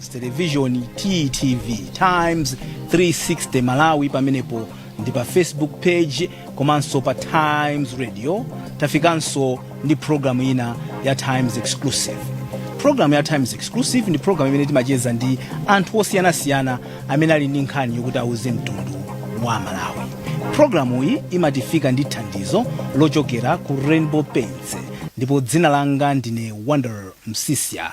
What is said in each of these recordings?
television ttv times 360 malawi pamenepo ndi pa facebook page komanso pa times radio tafikanso ndi programu ina ya times exclusive programu ya times exclusive ndi programu imene timacheza ndi anthu osiyanasiyana amene ali ndi nkhani yokuti auze mtundu wa malawi programu iyi imatifika ndi thandizo lochokera ku rainbow paints ndipo dzina langa ndine wonder msiska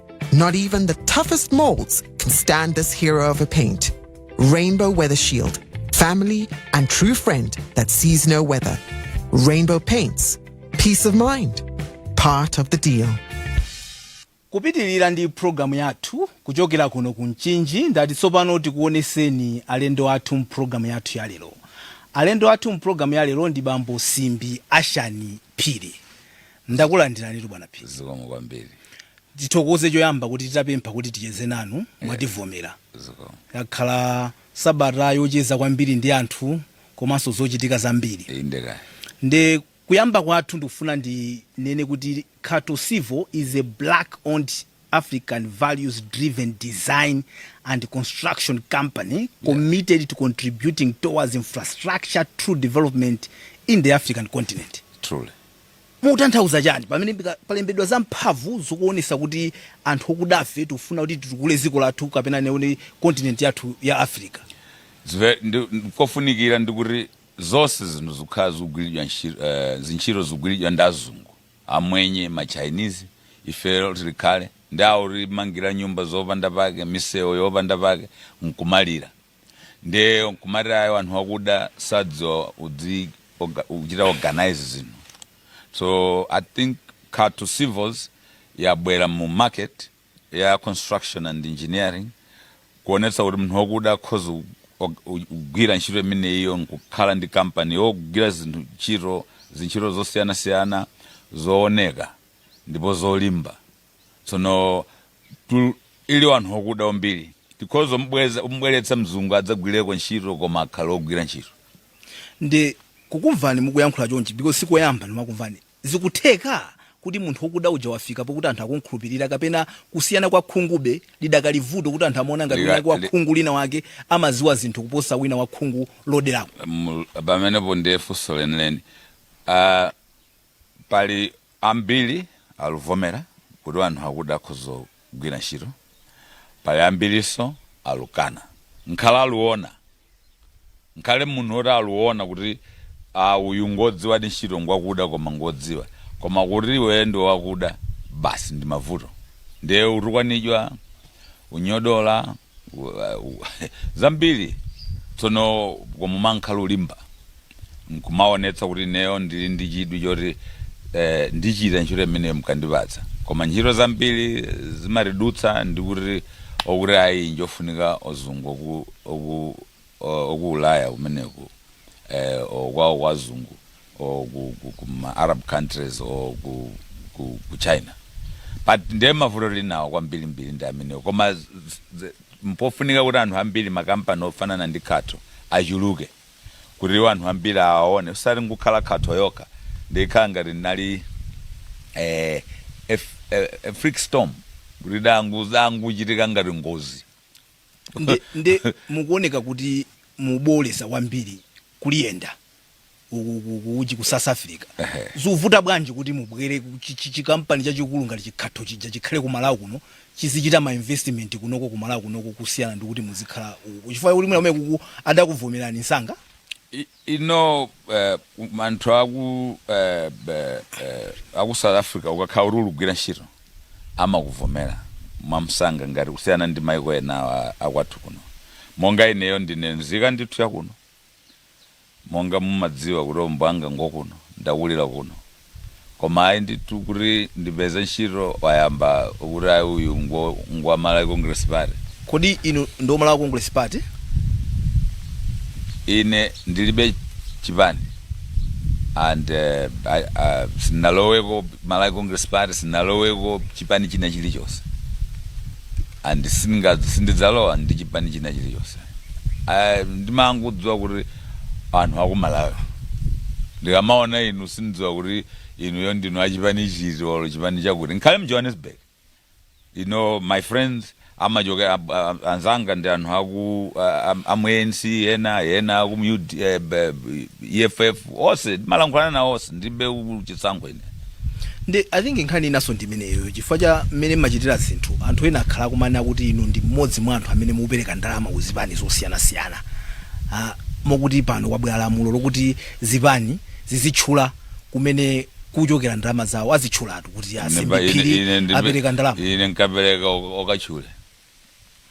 Not even the toughest molds can stand this hero of a paint. Rainbow Weather Shield, firm and true friend that sees no weather. Rainbow Paints, peace of mind, part of the deal. kupitirira ndi pulogalamu yathu kuchokera kuno ku mchinji ndati tsopano tikuoneseni alendo athu mpulogalamu yathu ya lero alendo athu mpulogalamu ya lero ndi bambo simbi ashani phiri Ndakulandiranitu bwana Phiri. zikomo kwambiri Tithokoze choyamba kuti titapempha kuti ticheze nanu mwativomera. zikomo Yakhala sabata yocheza kwambiri ndi anthu komanso zochitika zambiri. inde eya Nde kuyamba kwathu ndikufuna ndinene kuti Khato Civils is a black owned African values driven design and construction company committed to contributing towards infrastructure development in the African continent. truly Mukutanthauza chani pamene palembedwa zamphamvu zokuonesa kuti anthu okudafe tikufuna kuti titukule ziko lathu kapena tinene kuti continent yathu ya Africa? It's very ndi ndikofunikira ndi kuti zonse zinthu zikukhala zikugwiridwa ntchito eh, zintchito zikugwiridwa ndi azungu amwenye ma Chinese ife tili pakale ndi akutimangira nyumba zopanda pake misewu yopanda pake nkumalira nde kumati ayo anthu akuda sadziwa kudzi oga- kuchita organize zinthu so i think khato civils yabwera mu market ya construction and engineering kuonetsa kuti munthu wakuda akhoza ku- og- u- kugwira ntchito imeneyiyo nkukhala ndi kampani yogwira zinthu ntchito zintchito zosiyanasiyana zooneka ndipo zolimba tsono tu- ili wanthu okuda kwambiri tikhoza kumubweza- kumubweretsa mzungu adzagwireko ntchito koma akhale ogwira ntchito ndi kukumvani mukuyankhula chonchi because sikoyamba ndimakumvani zikutheka kuti munthu wokuda uja wafika pokuti anthu akumkhulupirira kapena kusiyana kwa khungube lidakali vuto kuti anthu amaona ngati kapena wina wa li- khungu lina wake amaziwa zinthu kuposa wina wa khungu loderako Mu- pamenepo ndiye funso lenileni Ah, Pali ambili aluvomela kuti wanthu akuda akhoza kugwila ntchito, pali ambiliso alukana. Nkhala aluona, nkhale munthu oti aluona kuti aah uyu ngodziwadi ntchito ngwakuda koma ngodziwa. Koma kuti iweyo ndiwe wakuda basi ndimavuto. Ndiye utukwanijwa, unyodola. zambiri tsono koma umakhala ulimba nkumaonetsa kuti ineyo ndili ndi chidwi choti eh, ndichita ntchito imene mkandipatsa koma ntchito zambiri zimatidutsa ndikuti okuti ayi njofunika ozungu oku- oku- or ku ulaya kumeneko eh, or kwawo kwazungu or ku, ku, ku ma arab countries or ku, ku, ku china but ndiye mavuto tili nawo kwambirimbiri ndi amenewo koma z- z- mpofunika kuti anthu ambiri makampani ofanana ndi Khato achuluke kuti iwo anthu ambiri awaone osati ingokhala Khato yokha ndikhala ngati ndinali eh, a, f- a, a freak storm kuti dango- zangochitika ngati ngozi nde, nde mukuoneka kuti mubooleza kwambiri kuliyenda uku- uku- uku- uje ku south africa Ehe. zivuta bwanji kuti mubwere ku chi- chi- chikampani chachikulu ngati chiKhato chija chikhale ku malawi kuno chizichita ma investment kunoko ku malawi kunoko kusiyana ndi kuti muzikhala uku chifukwa kuti mwina kumeneko uku adakuvomerani msanga I- you know uh, anthu aku uh, uh, aku south africa ukakhala kuti uligwira ntchito amakuvomera mwamsanga ngati kusiyana ndi maiko ena a- akwathu kuno monga ineyo ndine nzika ndithu yakuno monga mumadziwa kuti bambo anga ngokuno ndakulira kuno koma ayi ndithu kuti ndipeze ntchito wayamba kuti ayi uyu ngwa ngwa Malawi Congress Party. Kodi inu ndi wa Malawi Congress Party? Ine ndilibe chipani and uh, I, uh, sindinaloweko Malawi Congress Party, sindinaloweko chipani china chilichonse. and sindingadz sindidzalowa ndi chipani china chilichonse I ndimangodziwa kuti anthu aku Malawi ndikamaona inu sindidziwa kuti inuyo ndinu a chipani chiti or chipani chakuti nkhale mu Johannesburg you know my friends amachoka ab- a- anzanga ndi anthu aku a- a- amu ANC ena ena aku mu UD eh, b- b- EFF onse timalankhulana nawo onse ndilibe u- chisankho ine ndi i think nkhani inaso ndi imeneyo chifukwa cha mmene mmachitira zinthu anthu ena akhala akumanena kuti inu ndi mmodzi mwa anthu amene mukupereka ndalama ku zipani zosiyanasiyana Ah, mokuti pano kwabwera lamulo lokuti zipani zizitchula kumene kuchokera ndalama zawo azitchulatu kuti Ine pa- ine- ine a Simbi Phiri ndipe- apereka ndalama ine nkapereka ok- okatchule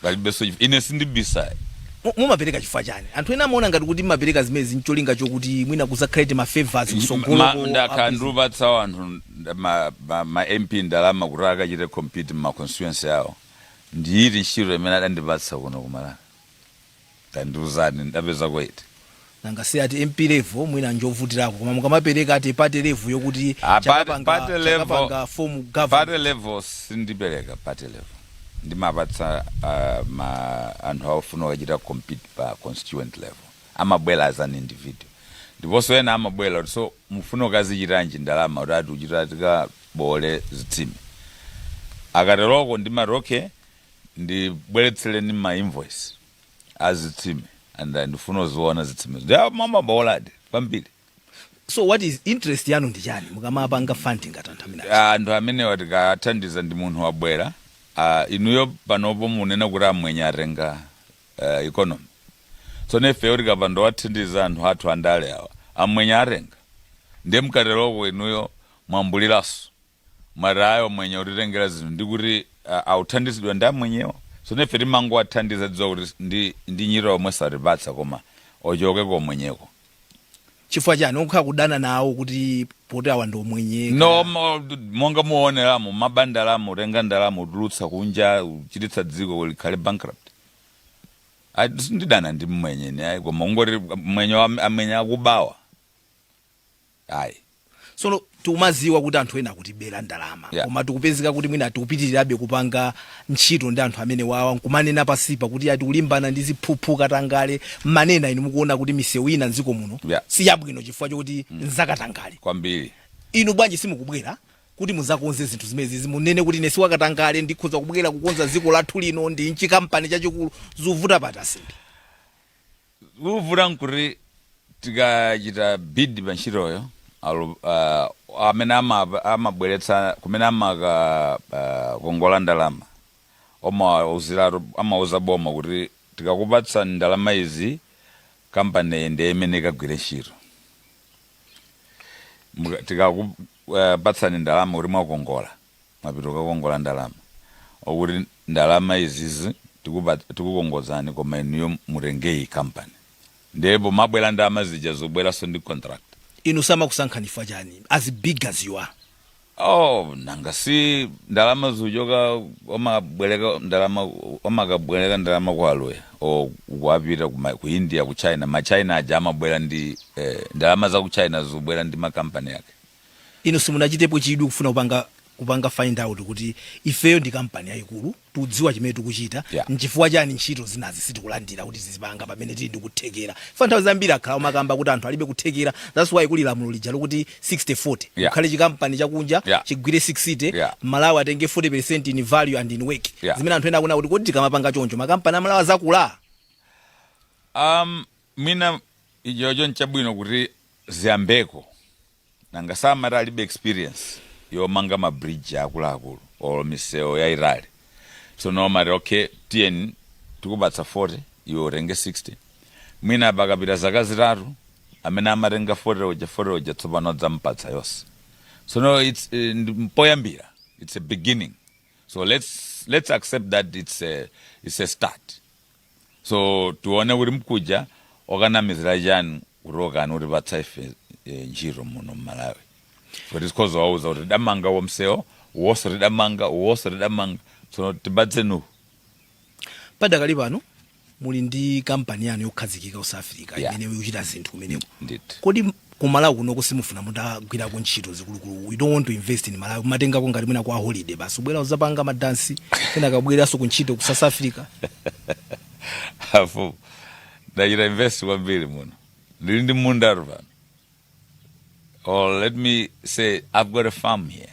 palibenso chif- ine sindibisayi Mu- mumapereka chifukwa chani anthu ena amaona ngati kuti mumapereka zimenezi ncholinga chokuti mwina kuzakhale ma favors Ma- kutsogoloko ndakhala ndikuwapatsa anthu nda- ma- ma- ma mp ndalama kuti akachite compete mma constituency awo ndiyiti ntchito imene adandipatsa kuno ku Malawi Tandiuzani ndapezako iti? nanga si ati mp level mwina njovutirako koma mukamapereka ati party level yokuti Ah, party- chakapanga party level- chakapanga form Party government level sindipereka party level. Ndimapatsa uh, ma anthu akufuna kukachita compete pa constituent level. Amabwera as an individual. Ndiponso ena amabwera kuti so mufuna mukazichitanji ndalama kuti ati uchita tikabole zitsime. Akateroko ndimati okay ndibweretsereni ma invoice a zitsime and I ndifuna ndizione zitsimezo ndi mumaboladi kwambiri so what is interest yanu ndi chani mukamapanga funding ngati anthu amene aja? anthu amenewa tikathandiza ndi munthu wabwera ah, inuyo panopo munena kuti amwenye atenga uh, economy so nefeyo tikapanda wathandiza anthu athu andale awa amwenye atenga ndiye mkateroko inuyo mwayankhulanso mwati ayi amwenye utitengera zinthu ndi kuti ah, authandizidwa ndi amwenyewo sono ife timangowathandiza tidziwa kuti ndi, ndi ntchito zomwe satipatsa koma achoke komwenyeko chifukwa chani ukhala kudana nawo kuti poti awa ndi omwenye no mo- monga muoneramo amaba ndalama utenga ndalama utulutsa kunja uchititsa dziko kuti likhale bankrupt Ayi, sindidana ndi mmwenye ni ayi koma ungoti mmwenye wa- amwenye akubawa Ayi. Sono tikumaziwa kuti anthu ena akutibera ndalama Yeah. koma tikupezeka kuti mwina tikupitirirabe kupanga ntchito ndi anthu amene wawa nkumanena pansipa kuti ati kulimbana ndi ziphuphu katangale mmene inu mukuona kuti misewu ina mdziko muno Yeah. si yabwino chifukwa chokuti nzakatangale Kwambiri. inu bwanji simukubwera kuti muzakonze zinthu zimenezi munene kuti ine siwakatangale ndikhoza kubwera kukonza dziko lathu lino ndi chi kampani chachikulu zuvuta pati a Simbi Chovuta nkuti tikachita bid pa ntchitoyo, alu- ah, amene ama- amabweretsa kumene amakakongola ndalama amawauziratu amauza boma kuti tikakupatsani ndalama izi kampaniyi ndiye imene ikagwire ntchito Muka- tikakupatsani ndalama kuti mwakongola mwapita kukakongola ndalama or kuti ndalama izizi tikupat tikukongozani koma inuyo mutenge iyi company ndiye pomabwera ndalama zija zikubweranso ndi contract. inu samakusankhani chifukwa chani as big as you are Oh, nanga si ndalama zuchoka amabwereka ndalama amakabwereka ndalama kwa aloya or kuti apita ku ma- ku india ku china ma china aja amabwera ndi eh, ndalama za ku china zikubwera ndi makampani yake Inu simunachitepo chidwi kufuna kupanga kupanga find out kuti ifeyo ndi kampani yayikulu tudziwa chimene tikuchita Yeah. nchifukwa chani ntchito zinazi sitikulandira kuti tizipanga pamene tili ndi kuthekera pa nthawi zambiri akhala umakamba kuti anthu alibe kuthekera that's why kuli lamulo lija lokuti 6040 Yeah. kukhale chikampani chakunja Yeah. chigwire 60 Yeah. malawi atenge 40 in value and in work Yeah. zimene anthu ena akunena kuti kodi tikamapanga choncho makampani a malawi azakula Um, mwina ichocho nchabwino kuti ziyambeko nanga samati alibe experience yomanga ma bridge akuluakulu or misewu yaitali tsono amati okay tiye tikupatse 40 iwe utenge 60 mwina pakapita zaka zitatu amene amatenga 40 uja 40 uja tsopano azampatsa yonse tsono it's eh, ndi mpoyambira it's a beginning so let's let's accept that it's a, it's a start So tione kuti nkuja okakamizira chani kuti mukamatipatsa ife eh, ntchito muno mmalawi kuti tikhoza kuwauza kuti tidamanga uwo msewu uwonso tidamanga uwonso tidamanga tsono tipatseni uwu padakali pano muli ndi kampani yanu yokhazikika ku south africa Yeah. imene ikuchita zinthu kumeneko ndithu kodi ku malawi kunoko simufuna mutagwirako ntchito zikulukulu u dont want to invest in malawi mumatengako ngati mwina kwa holiday basi ubwera uzapanga madansi kenaka ubwereranso ku ntchito ku south africa ah ndachita invest kwambiri muno ndili ndi mundatu pano or let me say i've got a farm here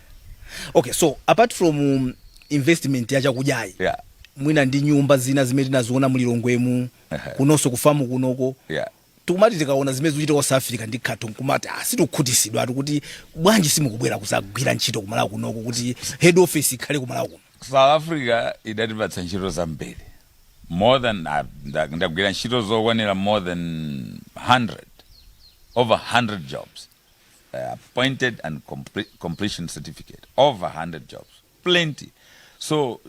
okay so apart from um, investment ya chakudyayi yeah mwina ndi nyumba zina zimene tinaziona mulilongwemu kunonso kufamu kunoko yeah tikumati tikaona zimene zikuchitika ku south africa ndi khatho nkumati ah, sitikukhutisidwa atu kuti bwanji simukubwera kuzagwira ntchito kumalawi kunoko kuti head office ikhale kumalawi kuno south africa idatipatsa ntchito zambiri more than ah, nda- ndagwira ntchito zokwanira more than 100 over 100 jobs appointed and compre- completion certificate over 100 jobs plenty so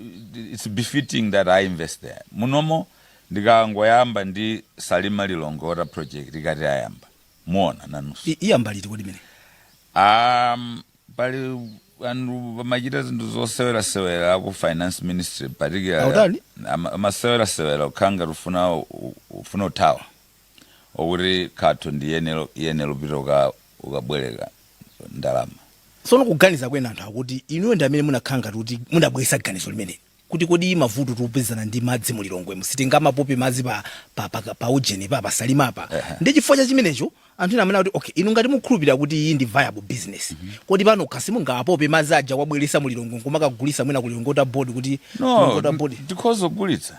it's befitting that i invest there munomo ndikangoyamba ndi salima lilongwe water project ikati ayamba muona nanunso I- iyamba liti kodi mene um, pali anthu amachita zinthu zosewerasewera ku finance ministry particularly Atani? ama- amasewerasewera ukhala ngati ufuna ufuna uthawa okuti khatho ndiye nelo ndiyeno pita uka ukabweleka ndalama. Tsono kuganiza kwina anthu akuti inuyo ndi amene munakhala ngati kuti mudabweretsa ganizo limeneli kuti kodi mavuto tikupezana nawo a madzi mu Lilongwe mu sitingamapope madzi pa, pa, pa, pa ujeni pa pasalima apa Ehe. ndi chifukwa cha chimenecho anthu ena amene akuti okay inu ngati mukhulupirira kuti iyi ndi viable business kodi panokha si mungawapope madzi aja wabweretsa mu Lilongwe nkumakagulitsa mwina ku Lilongwe Water Board kuti Lilongwe Water Board tikhoza kugulitsa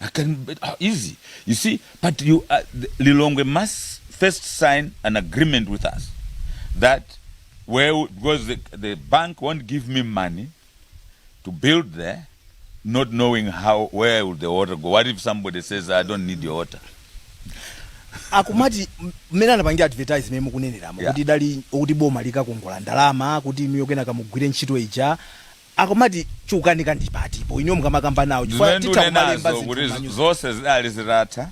I can, ah, easy. You see, but you, uh, the- Lilongwe must first sign an agreement with us that where w- because the, the bank won't give me money to build there, not knowing how where will the water go. What if somebody says I don't need your water? akumati m- mmene anapangira advertise mmene mukuneneramo Yeah. kuti anali kuti boma likakongola ndalama kuti inuyo kenaka mugwire ntchito ija akumati chikukanika ndi pati po inuyo mukamakamba nawo chifukwa zimene titha kumalemba ndikunenazo kuti zinthu zonse zidali zitatha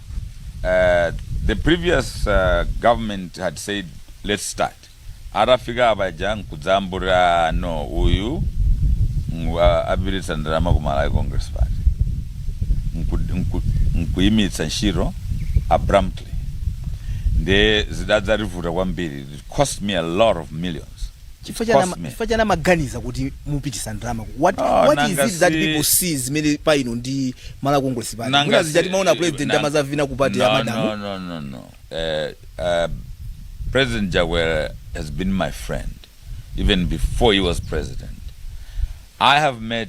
eh, the previous eh, government had said let's start atafika apaja nkudzangoti no uyu ngu- a- apititsa ndalama ku malawi congress party Nku- nku- nkuyimitsa ntchito abruptly nde zidadzativuta kwambiri it cost me a lot of millions chifukwa chani ama- Cosme. chifukwa chani amaganiza kuti mupitisa ndalama ku- what, Ah, what nanga is it that si- people see zimene pa inu ndi Malawi congress pati Nanga mwina si- zija timaona president nanga- amazavina ku pati ya no, madamu no, no, no, no. Uh, uh, President Chakwera has been my friend even before he was president. I have met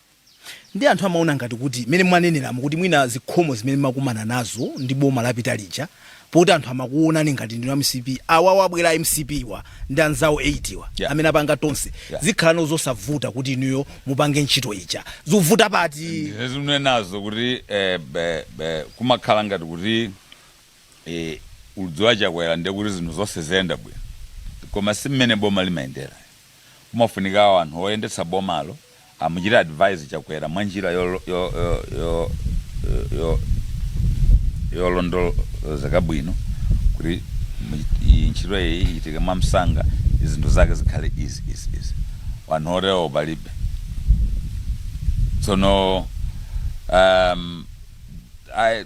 Ndiye anthu amaona ngati kuti mmene mwaneneramu kuti mwina zikhomo zimene mmakumana nazo ndi boma lapita lija poti anthu amakuonani ngati ndinu a mcp awawa abwera a mcp wa ndi anzawo 8 wa Yeah. amene apanga tonse Yeah. zikhala no zosavuta kuti inuyo mupange ntchito ija zikuvuta pati ndinenazo kuti eh, be- be- kumakhala ngati kuti eh, ukudziwa chakwera ndiye kuti zinthu zonse ziyenda bwino koma si mmene boma limayendera kumafunika anthu oyendetsa bomalo amuchite advise chakwera mwa njira yo yo yo yo yo yolondolozeka bwino kuti mu- iyi ntchito iyi ichitike mwa msanga zinthu zake zikhale easy easy easy wanthu otewo palibe tsono um, I,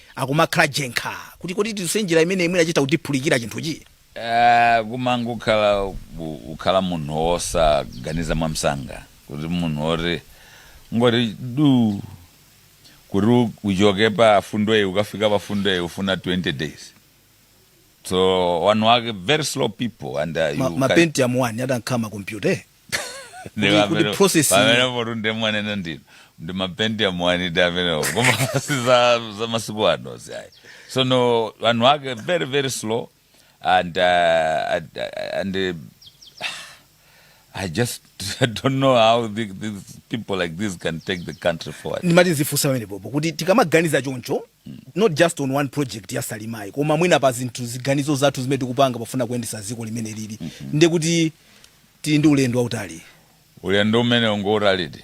akumakhala jenkha kuti kodi tiduse njira imeneyi mwina chitha kutiphulikira chinthuchi. Aaa kumangokhala ku kukhala munhu wosaganiza mwamsanga kuti munhu woti kungoti duu kuti u uchoke pa fundo iyi ukafika pa fundo iyi ufuna 20 days so wanhu wake very slow people and uh, Ma, you ma can, pentium 1 atamakhala makompyuta eh? Kuti- kuti process- pamenepo ndiye mwanena ndithu ndi ma pentium 1 di amenewo koma si za za masiku ano ziayi so no wanhu ake very very slow and uh, and, uh, and uh, I just I don't know how the, these people like this can take the country forward. ndimati ndizifunsa pamenepopo kuti tikamaganiza choncho not just on one project ya salimayi koma mwina pa zinthu ziganizo zathu zimene tikupanga pofuna kuyendesa dziko mmene lili nde kuti Tili ndi ulendo wautali. Ulendo umeneu ngwautalidi.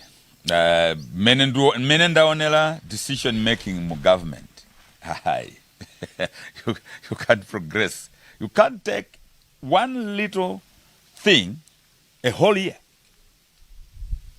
Mmene ndu, mmene ndaonera decision making mu government, ayi, you, you can't progress, you can't take one little thing a whole year.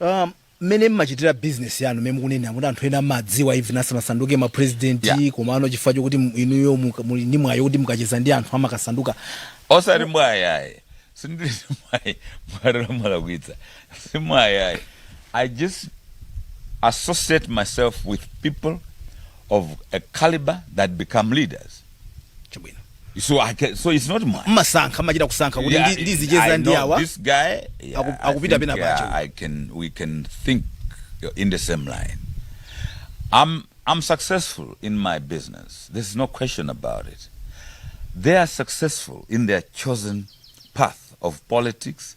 Um, mmene mmachitira business yanu mmene mukunena kuti anthu ena amadziwa even asanasanduke ma president Yeah. komano chifukwa chokuti inuyo muka- muli ndi mwayi wokuti mukacheza ndi anthu amakasanduka osati mwayi ayi sindili mwayi mwatero mwalakwitsa si mwayi ayi i just associate myself with people of a caliber that become leaders chabwino so i can so it's not mine mmasankha mmachita kusankha kuti Yeah, ndi- ndizicheza I ndi know awa this guy yeah, Aku- I akupita think, pena yeah, pacho. I can we can think in the same line I'm I'm successful in my business there's no question about it they are successful in their chosen path of politics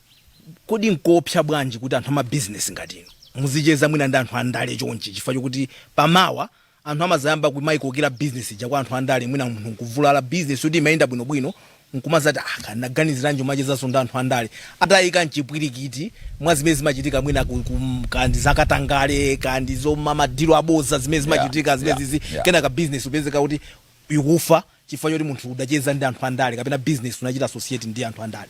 Kodi nkoopsa bwanji kuti anthu amabizinesi ngati inu muzicheza mwina ndi anthu andale chonchi chifukwa chokuti pa mawa anthu amazayamba kumaikokera bizinesi ija kwa anthu andale mwina munthu nkuvulala bizinesi yoti imayenda bwinobwino nkumazati ah kaya ndinaganiziranji kumachezanso ndi anthu andale ataika mchipwirikiti mwa zimene zimachitika mwina ku, ku, kaya ndi zakatangale kaya ndi zoma madilu aboza zimene Yeah, zimachitika yeah, zimenezizi yeah. kenaka bizinesi upezeka kuti ikufa chifukwa choti munthu udacheza ndi anthu andale kapena business unachita associate ndi anthu andale?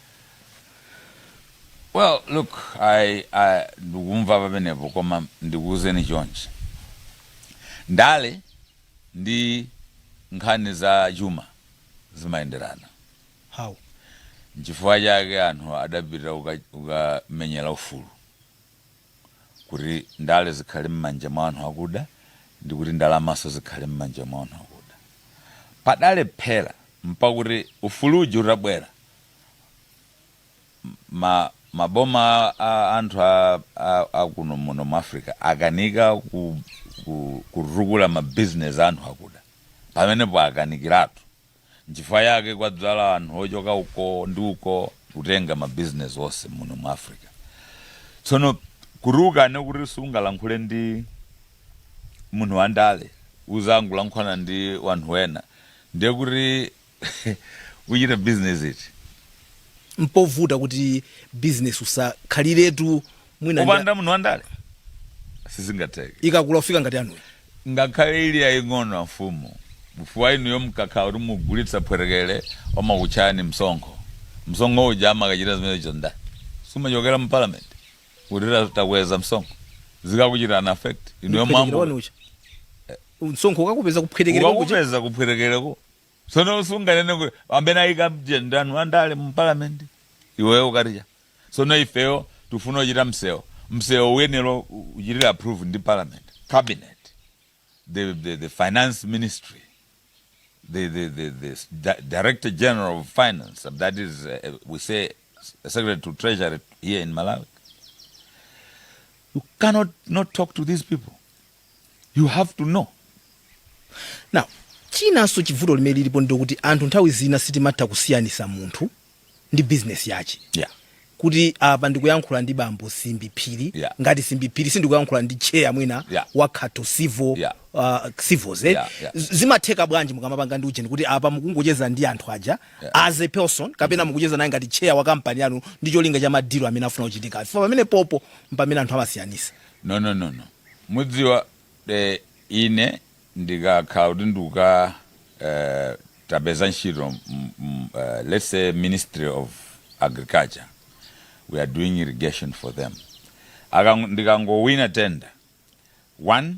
Well, look, I, I, ndikumva pamenepo koma ndikuwuzeni chonchi, ndale ndi nkhani za chuma zimayenderana How? nchifukwa chake anthu adapita kuka- kukamenyera ufulu kuti ndale zikhale mmanja mwa anhu akuda ndikuti ndalamanso zikhale mmanja mwa anhu akuda padalephera mpakuti ufulu uja utabwera ma ma boma a anthu a a akuno muno mu africa akanika ku ku kutukula ma business anthu akuda pamenepo akanikiratu Nchifukwa yake kwadzala anthu ochoka uko ndi uko kutenga ma business onse muno mu Africa. Tsono kuti ukane kuti sungalankhule ndi munthu wa ndale uzangolankhulana ndi wanthu wena ndiye kuti uchite business iti? Mpovuta kuti business usakhaliretu mwina ndi- kupanda munthu wandale sizingatheke ikakula kufika ngati yanuyi ngakhale ili yaying'ono amfumu chifukwa inuyo mkakhala kuti mugulitsa phwetekele amakutchajani msonkho msonkho uja amakachita zimenezo nanga sumachokera mu parliament kuti ta- takweza msonkho zikakuchitani affect inuyo mwambo uja msonkho ukakupeza kuphwetekere kwakoko ukakupeza kuphwetekereko Tsono sunganene kuti amene ayika mja ndi anthu andale mu parliament iweyo ukati chabwino tsono ifeyo tikufuna kuchita msewo msewo uyenera uchitidwe approve ndi parliament cabinet the the the finance ministry the the the the di director general of finance that is uh, we say secretary to treasury here in malawi you cannot talk to these people you have to know now chinanso chibvuto limene lilipo ndilokuti anthu nthawi zina sitimatha kusiyanisa munthu ndi business yache yeah kuti apa ndikuyankhula ndi bambo simbi phiri yeah. ngati simbi phiri sindikuyankhula ndi chair mwina yeah. wa Khato civil yeah. Uh, civils eh? yeah, yeah. zimatheka bwanji mukamapanga ndi ujeni kuti apa mukungocheza ndi anthu aja yeah. as a person kapena mm-hmm. mukucheza naye ngati chair wa kampani yanu ndi cholinga cha madilo amene afuna kuchitika pamenepopo mpamene anthu amasiyanisa no no no no Mudziwa, eh, ine ndikakhala kuti ndikuka, eh, tapeza ntchito mu, mu, eh, let's say Ministry of Agriculture, we are doing irrigation for them. Akang, ndikangowina tender, one,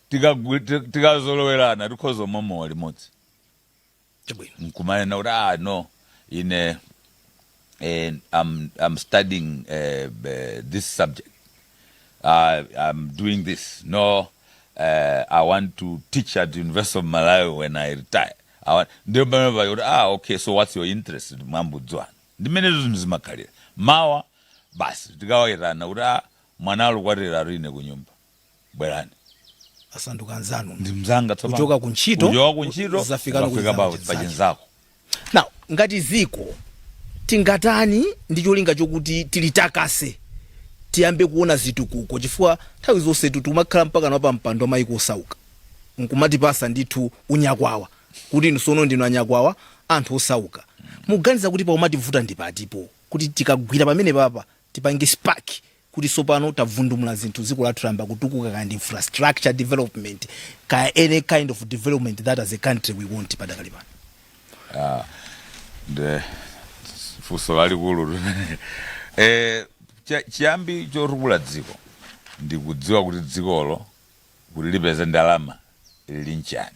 tikagwi- ti- tikazolowerana tikhoza kumwa mowa limodzi chabwino nkumanena kuti ah no ine eh, I'm, I'm studying eh, eh, this subject I, I'm doing this no eh, I want to teach at University of Malawi when I retire I want- ndiye pamene pali kuti ah okay so what's your interest mwayambodziwana ndimenezo zinthu zimakhalira mawa basi tikawayitana kuti ah mwana alukwatiratu ine kunyumba bwerani asanduka anzanu ndi mzanga tsopano Kuchoka ku ntchito, kuchoka ku ntchito zafikano ku ukafika chinzako pa- pa chinzake. chinzako now ngati dziko tingatani ndi cholinga chokuti tilitakase tiyambe kuona zitukuko chifukwa nthawi zonsetu tikumakhala mpakana wapampando wa mayiko osauka nkumatipasa ndithu unyakwawa kuti inu sono ndinu anyakwawa a anthu osauka muganiza kuti pakumativuta ndi patipo kuti tikagwira pamenepapa tipange spark kuti sopano tabvundumula zinthu dziko lathu layamba kutukuka kaya ndi infrastructure development kaya any kind of development that as a country we want padakali pano Ah, nde funso lalikulu limene eh, cha- chiyambi chotukula dziko ndi kudziwa kuti dzikolo kuti lipeze ndalama lili ndi chani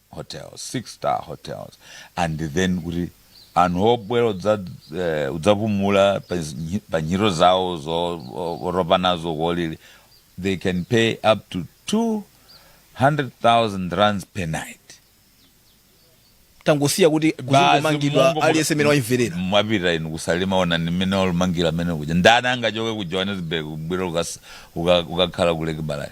hotels 6 star hotels and then kuti anthu obwera udza eh, udzapumula pa zi- pa ntchito zawo zotopa nazo kolili they can pay up to 200,000 rands per night tangosiya kuti kuzingomangidwa aliyense amene wayimvera mwapita inu ku Salima onani mmene walumangira amene kuja ndani angachoke ku Johannesburg kubwera ukas- uka- kukakhala ku lake balaya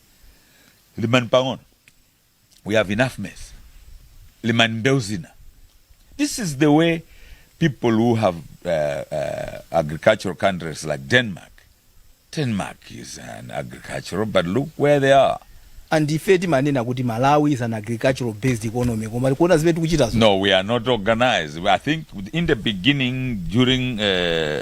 limani pang'ono we have enough mess limani mbewu zina this is the way people who have uh, uh, agricultural countries like denmark denmark is an agricultural but look where they are and ife timanena kuti malawi is an agricultural based economy koma tikuona zimene tikuchitazo no we are not organized i think in the beginning during uh,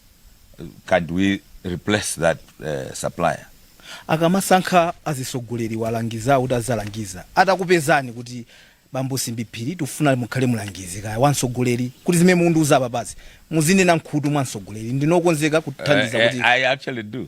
can we replace that uh, supplier akamasankha azisogoleri owalangizawo kuti azalangiza atakupezani kuti bambo Simbi Phiri tufuna mukhale mulangizi kaya wansogoleri kuti zimene mundiuza apazi muzinena mkhutu mwa nsogoleri ndinokonzeka kuthandiza eh, eh, kuti I actually do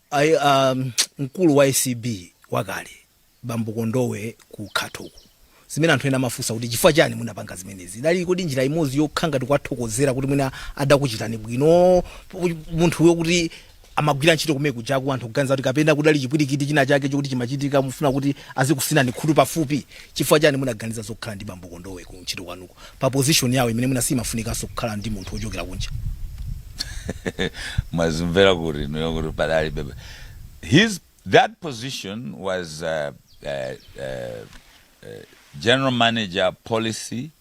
Ayi, a mkulu wa acb wakale bambo Kondowe ku Khato uku, zimene anthu ena amafunsa kuti chifukwa chani munapanga zimenezi, idali kodi njira imodzi yokha ngati kuwathokozera kuti mwina adakuchitani bwino munthawi yokuti amagwira ntchito kumene kujaku anthu kuganiza kuti kapena kudali chipwirikiti china chake chokuti chimachitika mufuna kuti azikusinani khutu pafupi? Chifukwa chani munaganiza zokhala ndi bambo Kondowe ku ntchito kwanuko? pa position yawo imene mwina siimafunikanso kukhala ndi munthu wochokera kunja? Mwazimvera kuti inuyo kuti padalibe his that position was uh, uh, uh, uh, general manager policy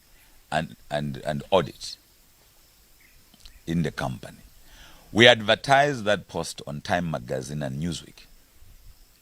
and, and, and audit in the company. We advertised that post on Time Magazine and Newsweek.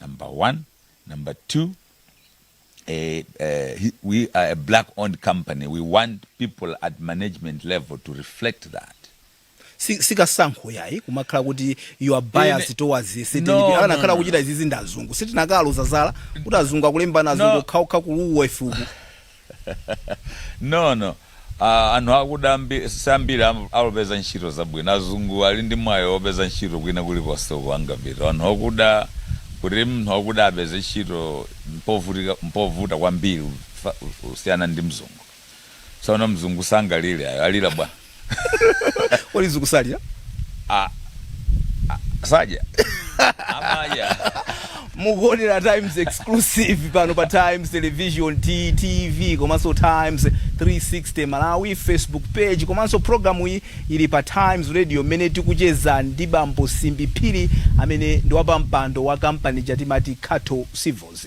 number one number two eh, eh, he- we are a black owned company we want people at management level to reflect that Si- sikasankho yayi kumakhala kuti you are biased Ine- towards No, certain people no, anakhala no, akuchita izizi ndi azungu sitinakaloza zala kuti azungu akulembana azungu No. okhaokha kuluwa ifuku No no ah anhu akuda ambi siambiri am alupeza ntchito zabwino azungu ali ndi mwayi opeza ntchito kwina kulikonse uko angapite anhu okuda kuti mnhu wakuda apeze ntchito mpovutika mpovuta kwambiri kufa kusiyana ndi mzungu sono mzungu sangalire ayi alira bwa Kodi zikusalira? Ah, ah, saja amaja mukuonera times exclusive pano pa times television ttv komanso times 360 malawi facebook page komanso programu iyi ili pa times radio mmene tikucheza ndi bambo simbi phiri amene ndi wapampando wa kampani ija timati khato civils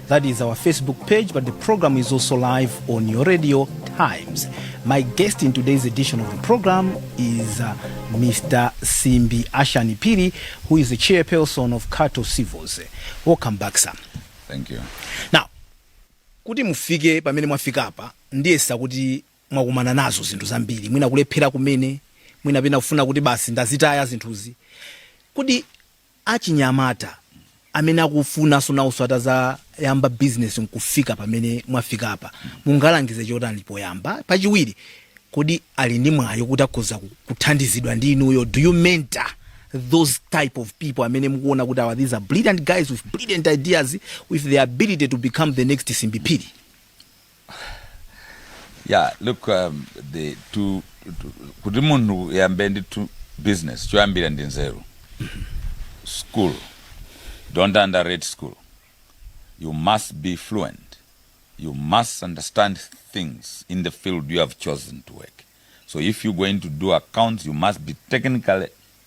That is our Facebook page, but the program is also live on your radio times. My guest in today's edition of the program is uh, Mr. Simbi Ashanti Phiri, who is the chairperson of Khato Civils. Welcome back, sir. Thank you. Now, kuti mufike pamene mwafika apa ndiyesa kuti mwakumana nazo zinthu zambiri mwina kulephera kumene mwina pena kufuna kuti basi ndazitaya zinthuzi kuti achinyamata amene akufunaso nawoso atazayamba business nkufika pamene mwafikapa mungalangize chotani poyamba pachiwiri kodi ali ndi mwayi kuti akhoza kuthandizidwa ndi inuyo do you mentor those type of people amene mukuona kuti awa these are brilliant guys with brilliant ideas with the ability to become the next simbi phiri yeah look um, the to, to kuti munthu yambe ndi to business choyambira ndi nzeru school don't underrate school you must be fluent you must understand things in the field you have chosen to work so if you're going to do accounts you must be technically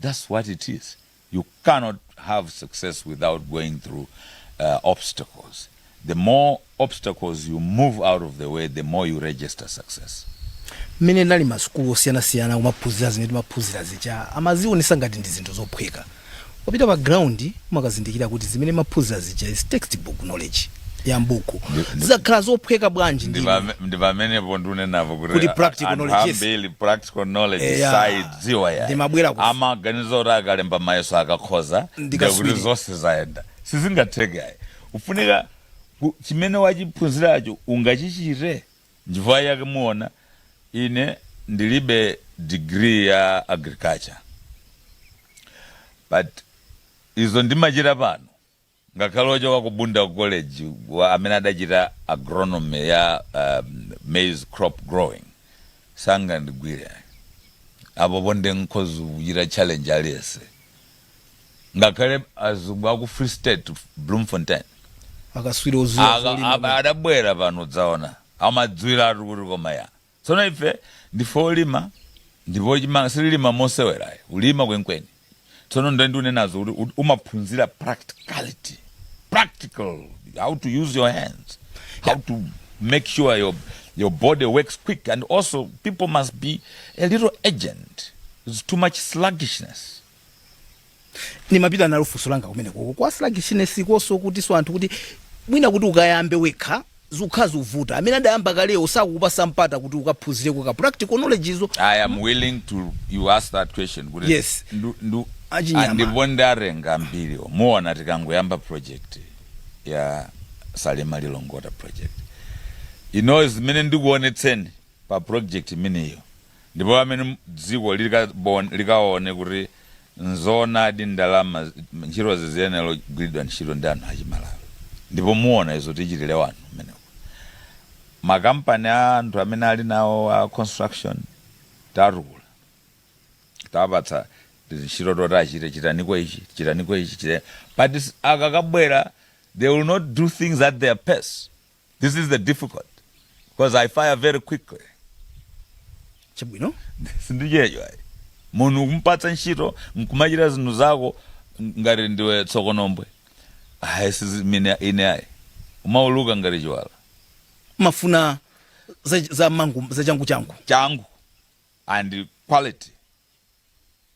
Thats what it is, you cannot have success without going through obstacles, the more obstacles you move out of the way the more you register success. mmene ndinali m'masukulu osiyanasiyana kumaphunzira zimene timaphunzira zija amazionesa ngati ndi zinthu zophweka ukapita pa ground umakazindikira kuti zimene maphunzira zija is textbook knowledge. ya mbuku zimakhala zophweka bwanji ndi Ndipame- ndipamenepo ndiunenapo kuti Kuti practical anthu knowledge, yes. ambiri practical knowledge Eh, ya. saidziwa ya Ndimabwera ku- amaganiza kuti akalemba mayeso akakhoza Ndi ndiye kuti kaswiri. zonse zayenda sizingatheke ayi kufunika ku- chimene wachiphunziracho ungachichite njifukwa yake muona ine ndilibe degree ya agriculture but izo ndimachita pano Ngakhale ochoka ku Bunda College amene adachita agronomy ya maize crop growing sangandigwire ayi. Apopo nde nkhoza kuchita challenge aliyense ngakhale azungu aku free state Bloemfontein Akaswiri oziwa za zolima awa bwino. adabwera pano kudzaona amadziwiratu kuti koma ya Tsono ife ndife olima ndipo chimanga sitilima mosewera ayi, kulima kwenikweni. Tsono ndiye ndikunenazo kuti ut- umaphunzira practicality, practical, how to use your hands, how to make sure your, your body works quick and also people must be a little urgent. It's too much sluggishness. nimapita nalo funso langa kumenekoko kwa sluggishness konso kuti so anthu kuti mwina kuti ukayambe wekha zikukhala zikuvuta amene adayamba kalewo sakukupasa mpata kuti ukaphunzireko ka practical knowledge izo i am willing to you ask that question kuti Yes. ndu- ndu- Achinyamata. ndipo ndatenga ambiri muona tikangoyamba project ya salima lilongwe water project ino zimene ndikuonetseni pa project imeneyo ndipo pamene dziko likaone kuti nzoonadi ndalama ntchitozi ziyenera kugwiridwa ntchito ndi anthu achimalawi ndipo muona izo tichitire anthu kumeneko makampani a anthu amene ali nawo a construction tatukula tapatsa tizintchito toti achite chitaniko ichi chitaniko ichi chita but akakabwera they will not do things at their pace This is the difficult because I fire very quickly. chabwino sindichedwa ayi munhu kumupatsa ntchito nkumachita zinthu zako ngati ndiwe tsokonombwe ayi sizimene ine ayi umauluka ngati chiwala mafuna za, za mangu za changu changu changu and quality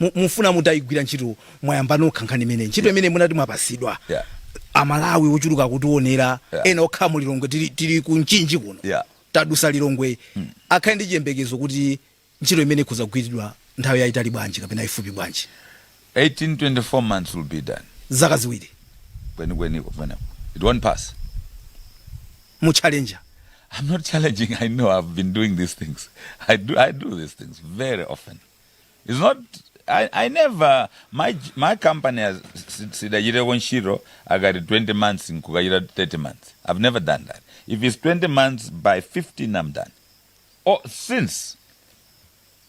Mu- mukufuna mutaigwira ntchito mwayamba nokha nkhani imene ntchito imene munati mwapatsidwa Yeah. amalawi ochuluka akutiwonera Yeah. ena okhala mu lilongwe tili, tili ku mchinji kuno Yeah. tadusa lilongwe akhale ndi chiyembekezo kuti ntchito imene ikhoza kugwiridwa nthawi yayitali bwanji kapena ifupi bwanji 18 24 months will be done zaka ziwiri kwenikweniko pamenepo it won't pass mukuchallenger i'm not challenging i know i've been doing these things i do, I do these things very often It's not I, I never my, my company has si- sidachiteko ntchito akati 20 months nkukachita 30 months i've never done that if it's 20 months by 15 i'm done oh, since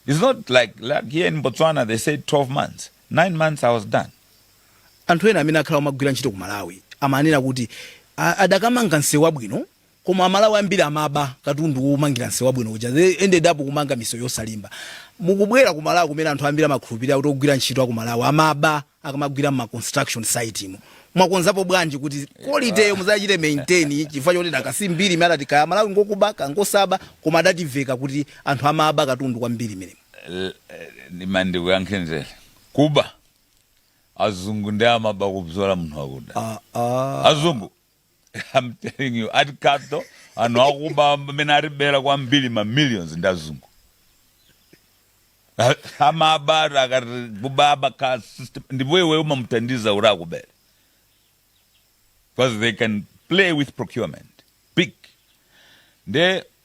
it's not like, like here in botswana they say 12 months 9 months i was done anthu ena amene akhala amagwira ntchito ku malawi amanena kuti a- adakamanga msewu wabwino koma amalawi ambiri amaba katundu womangira msewu wabwino uja they ended up kumanga misewu yosalimba mukubwera ku malawi kumene anthu ambiri amakhulupirira kuti ogwira ntchito aku malawi amaba akamagwira mma construction site mu mwakonzapo bwanji kuti qualityyo muzachite maintain chifukwa choti dakasi mbiri imene adati kaya malawi ngokuba kangosaba koma adativeka kuti anthu amaba katundu kwambiri imenemo L- eh, ndima ndikuyankhe nzere kuba azungu ndi amene amaba kupyola munthu wakuda ah, ah. azungu I'm telling you at capital anthu akuba amene atibera kwambiri ma millions ndi azungu A- amabata akati kuba amaba ka system ndipo iwe umamuthandiza kuti akubere because they can play with procurement big nde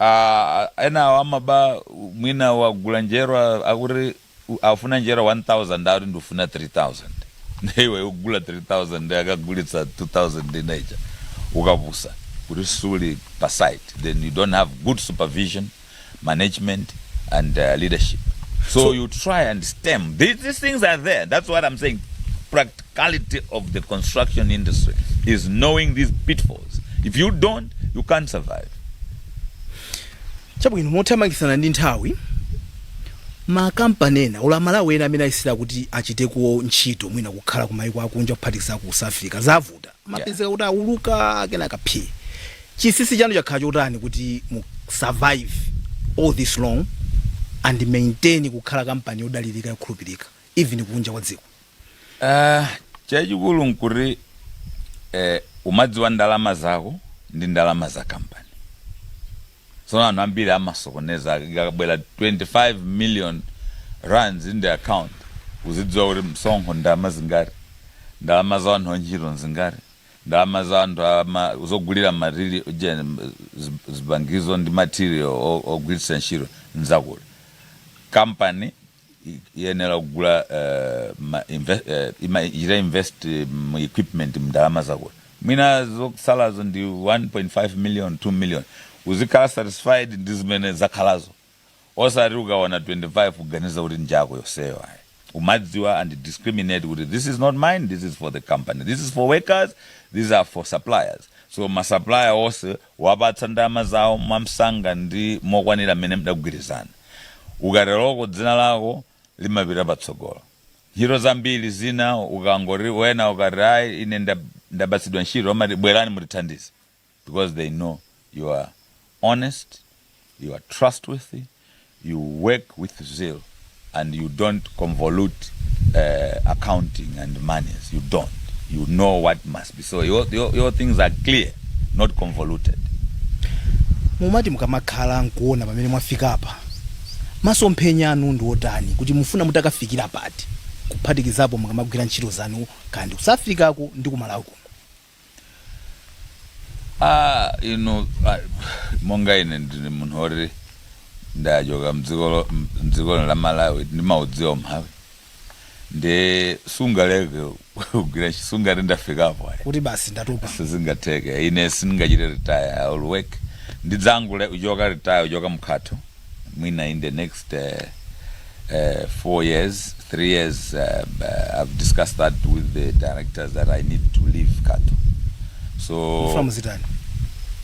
Aaa enawa amaba mwina wagula njerwa akuti akufuna njerwa 1000 akuti ndikufuna 3000 nde iwe ugula 3000 nde akagulitsa 2000 ina ija ukapusa kuti suli pa site then you don't have good supervision, management and leadership so So- you try and stem, these things are there that's what am saying pract. quality of the construction industry is knowing these pitfalls. If you don't, you can't survive. chabwino mothamangitsana ndi nthawi makampani ena aku malawi ena amene ayesera kuti achiteko ntchito mwina kukhala kumayiko akunja kuphatikiza ku south africa zavuta amapezeka kuti auluka akena kaphe chinsinsi chanu chakhala chotani kuti mu survive all this long and maintain kukhala kampani yodalirika yokhulupirika even kunja kwa dziko Ah, chachikulu nkuti eh, umadziwa ndalama zako ndi ndalama za kampani tsono anthu ambiri amasokoneza ikabwera 25 million rands in the account uzidziwa kuti msonkho ndalama zingati ndalama za anthu antchito nzingati ndalama za anthu ama- zogulira matiri ujeni, zib- zipangizo ndi material o- ogwiritsa ntchito nza kukampani iyenera kugula eh, ma inve- eh, ima- ichita invest mu equipment mndalama zako mwina zokusalazo ndi 1.5 million 2 million uzikhala satisfied ndi zimene zakhalazo osati ukaona 25 kuganiza kuti nja iwe yonseyo ayi umadziwa and discriminate kuti this is not mine this is for the company this is for workers these are for suppliers so masupplier onse kuwapatsa ndalama zawo mwamsanga ndi mokwanira mmene mudagwirizana. Ukateroko dzina lako limapita patsogolo. Ntchito zambiri zina ukangoti wena ukati ayi ine ndapatsidwa ntchito amati bwerani mutithandize because they know you are honest, you are trustworthy, you work with zeal, and you don't convolute uh, accounting and monies. You don't. You know what must be. So your, your, your things are clear, not convoluted. mumati mukamakhala nkuona pamene mwafika apa masomphenya anu ndi otani kuti mufuna mutakafikira pati kuphatikizapo mukamagwira ntchito zanu kandi kusafirikako ndi ku Malawi kuno Ah, inu ah, monga ine ndili munthu woti ndachoka mdzikolo mdzikolo la Malawi ndimaudziwa umphawi ndi sungaleke kugwira ntchito, sungati ndafikapo ayi kuti basi ndatopa sizingatheke ine sindingachite retire I will work ndidzangulekera kuchoka retire uchoka mkhatho mwina in the next 4 years 3 years i've discussed that with the directors that i need to leave cattle so mufuna muzitani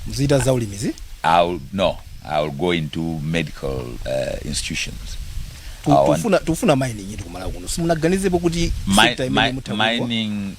muzita za ulimizi i'll no i'll go into medical uh, institutions Tu- I want- tufuna tufuna mining iti kumalawi kuno simunaganizepo kuti Mi- sector imene mi- mutha kuigwa? mining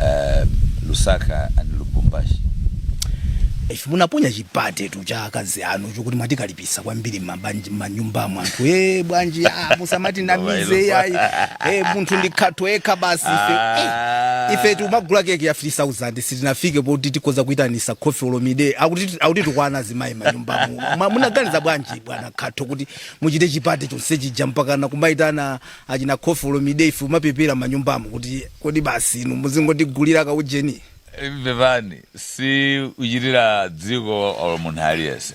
um, Lusaka and Lubumbashi. ife munaponya chiparty tu cha akazi anu chokuti mwatikalipisa kwambiri m'mabanji- m'manyumba mwa anthu e bwanji ah, musamati namize yayi e munthu ndi khatho ekha basi ife Eh, ife tikumagula keke ya 3000 sitinafike poti tikhoza kuyitanitsa Koffi Olomide akuti akuti tikwana zimayi manyumba muno Ma- munaganiza bwanji bwana Katho kuti muchite chiparty chonse chija mpakana kumayitana achina Koffi Olomide ife kumapepera manyumbamu kuti kodi basi inu muzingotigulira ka ujeni. Pepani si kuchitira dziko or munthu aliyense.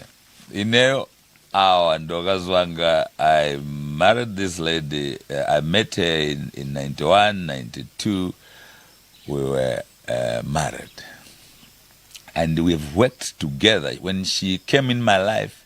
Ineyo awa ndi akazi anga I married this lady eh, I met her in, in 91 92 we were eh, married and we've worked together when she came in my life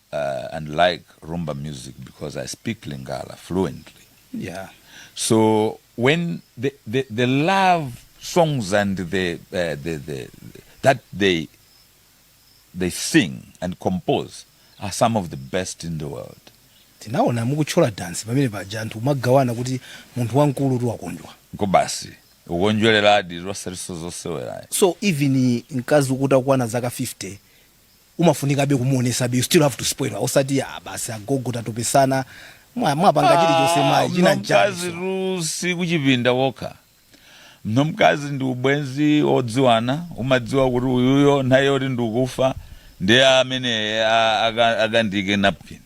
uh, and like rumba music because I speak Lingala fluently. Yeah. So when the the, the love songs and the, uh, the the that they they sing and compose are some of the best in the world. tinaona mukutchola dansi pamene paja anthu kumagawana kuti munthu wamkulu kuti wakondwa Nkobasi ukondwereradi osati zosewera ayi. so even mkazi ukuti akukwana zaka 50 umafunikabe kumuonesabe you still have to spoil her osati ah basi agogo tatopesana mwa- mwapanga chilichonse Ah, mayi china nchiyani mnzako wamkazi so tu sikuchipinda kokha munthu wamkazi ndi ubwenzi wodziwana umadziwa kuti uyuyo nthawi yoti ndikufa ndi amene a- aka- akandike napkin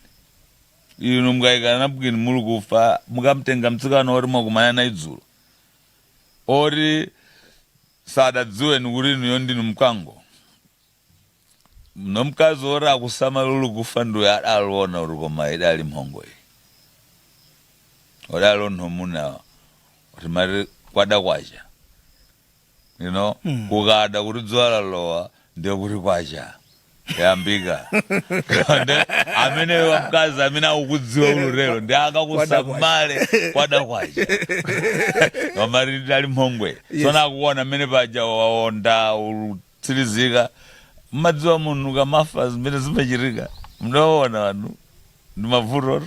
inu mukayikidwa napkin muli kufa mukamtenga mtsikana woti mwakumana naye dzulo woti sadakudziweni kuti inuyo ndinu mkango nomkazi woti akusamale uli kufa ndiye adaliona kuti koma idali mhongo iyi adaliona amuna timati kwada kwacha you know Mm. kukada kuti dzuwa lalowa ndiye kuti kwacha yambika Nde ameneyo wamkazi amene akukudziwa ulutero ndi akakusamale kwada kwacha kamari dali mhongwe Yes. sona akuona amene paja waonda ulu- tsirizika. Mumadziwa munthu akamafa zimene zimachitika? Mudawaona wanthu ndi mabvuto?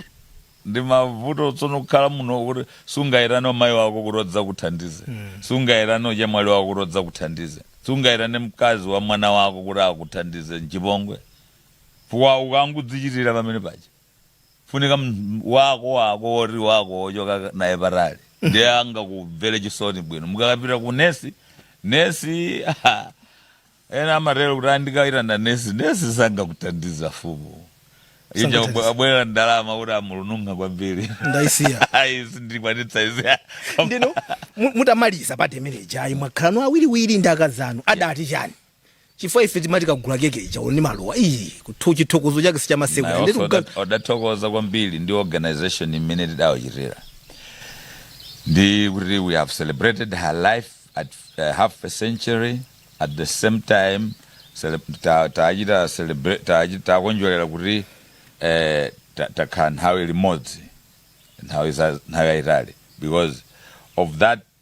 Ndi mabvuto tsono kukhala muno kuti sungaitane omayi wako kuti adzakuthandize, sungaitane ochemwali wako kuti adzakuthandize, sungaitane mkazi wa mwana wako kuti akuthandize, nchipongwe. Chifukwa ukangodzichitira pamene paja. funika m- wako wako woti wakuwochoka naye patali ndiye angakumvere chisoni bwino mukapita ku nesi nesi ha, ena amatero kuti andikaitana nesi nesi sangakuthandize fumu ija Sangakuthandize. abwera ndalama kuti amulununga kwambiri ndaisiya ayi sindikwanitsa izi ndino mu- mutamaliza pa temeneja ayi mwakhalano awiriwiri ndi akazanu adati chani chifukwa ife timati kagula keke ija ali ndi maluwa iyi kuthu chithokozo chake sichamasewa naye ndetu ofe kuga- oda- adathokoza kwambiri ndi organization imene tidawachitira ndi kuti we have celebrated her life at uh, half a century at the same time cele- ta- tachita celebrate- tachi- takondwerera kuti eh, ta- takhala nthawi limodzi nthawi za- nthawi yayitali because of that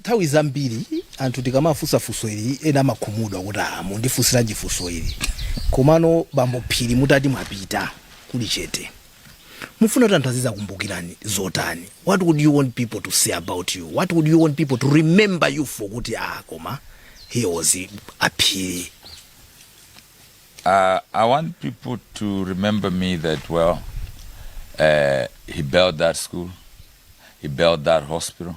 Nthawi zambiri anthu tikamafunsa funso ili ena amakhumudwa kuti aah mundifunsiranji funso ili komano bambo Phiri mutati mwapita kuli chete mufuna kuti anthu azizakumbukirani zotani? What would you want people to say about you? What would you want people to remember you for kuti aah koma a Phiri? Uh, I want people to remember me that, well, uh, he built that school, he built that hospital,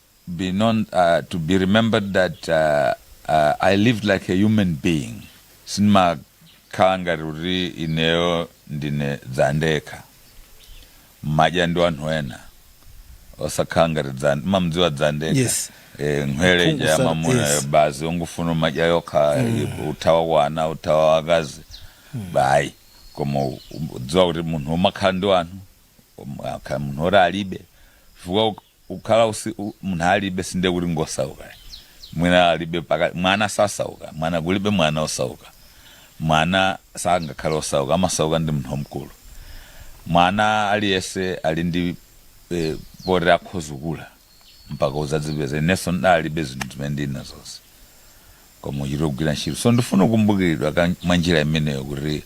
be known uh, to be remembered that uh, uh, I lived like a human being sindimakhala ngati kuti ineyo ndine dzandekha mmadya ndi anthu ena osakhala ngati dzan- mamdziwa dzandekha Yes. eh, nkhwele mphongo ija sa- mamuna yes. basi ungofuna umadya yokha uthawa wana uthawa wakazi bayi koma udziwa kuti munthu umakhala ndi wanthu umakhala munthu oti alibe chifukwa kukhala kuti munthu alibe sindiye kuti ngosauka ayi. mwina alibe paka mwana sasauka mwana kulibe mwana osauka mwana sangakhale osauka amasauka ndi munthu wamkulu mwana aliyese ali ndi eh, poti akhoza kukula mpaka uzadzipeza inenso ndinalibe zinthu zimene ndili nazozi koma kuchita kugwira ntchito so ndifuna kukumbukiridwa ka- mwa njira imeneyo kuti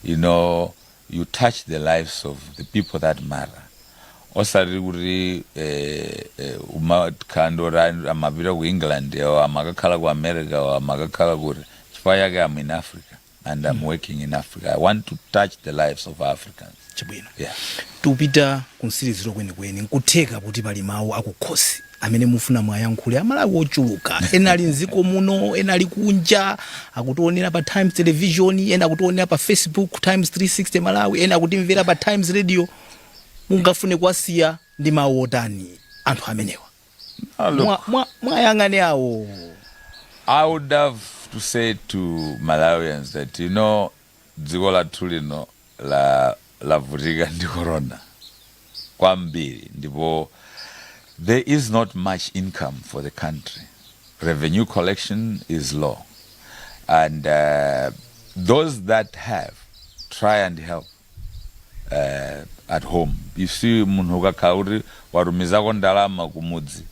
you know you touch the lives of the people that matter osati kuti eh, eh, umakhala ndi oti ayi amapita ku england awo amakakhala ku america awo amakakhala kuti chifukwa chake am in africa and am working in africa i want to touch the lives of africans chabwino yeah. tupita kumtsiriziro kwenikweni nkutheka kuti pali mawu akukhosi amene mufuna muwayankhule amalawi ochuluka ena ali mdziko muno ena ali kunja akutionera pa times television ena akutionera pa facebook times 360 malawi ena akutimvera pa times radio mungafune kuwasiya ndi mawu otani anthu amenewa Ah, look, Mwa- mwa- muwayang'ane awo I would have to say to Malawians that, you know, Dziko lathu lino lavutika ndi corona kwambiri ndipo there is not much income for the country, revenue collection is low and those that have try and help at home, you see munthu ukakhala kuti watumizako ndalama kumudzi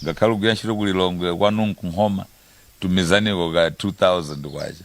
ngakhale ukugwira ntchito ku Lilongwe kwanu nku Nkhoma tumizaniko ka 2000 kwacha.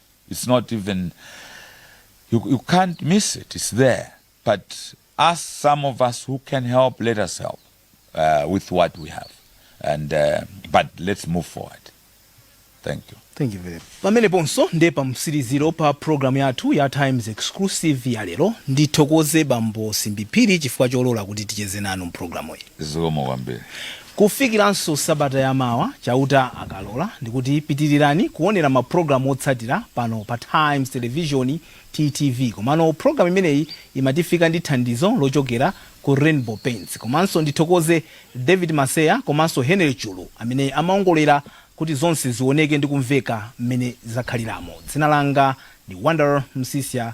its not even you, you can't miss it its there but us some of us who can help let us help uh, with what we have and uh, but let's move forward thank you thank you very much pameneponso nde pa mtsiriziro pa programu yathu ya times exclusive ya lero ndithokoze bambo Simbi Phiri chifukwa cholola kuti ticheze nanu mpulogalamu iyi zikomo kwambiri Kufikiranso sabata ya mawa, Chauta akalola, ndikuti pitirirani kuwonera mapulogalamu otsatira pano pa Times Televizioni, TTV. Komano pulogalamu imeneyi imatifika ndi thandizo lochokera ku Rainbow Paints. Komanso ndithokoze David Maseya komanso Henry Chulu amene amaongolera kuti zonse zioneke ndi kumveka mmene zakhaliramo. Dzina langa ndi Wonder Msiska.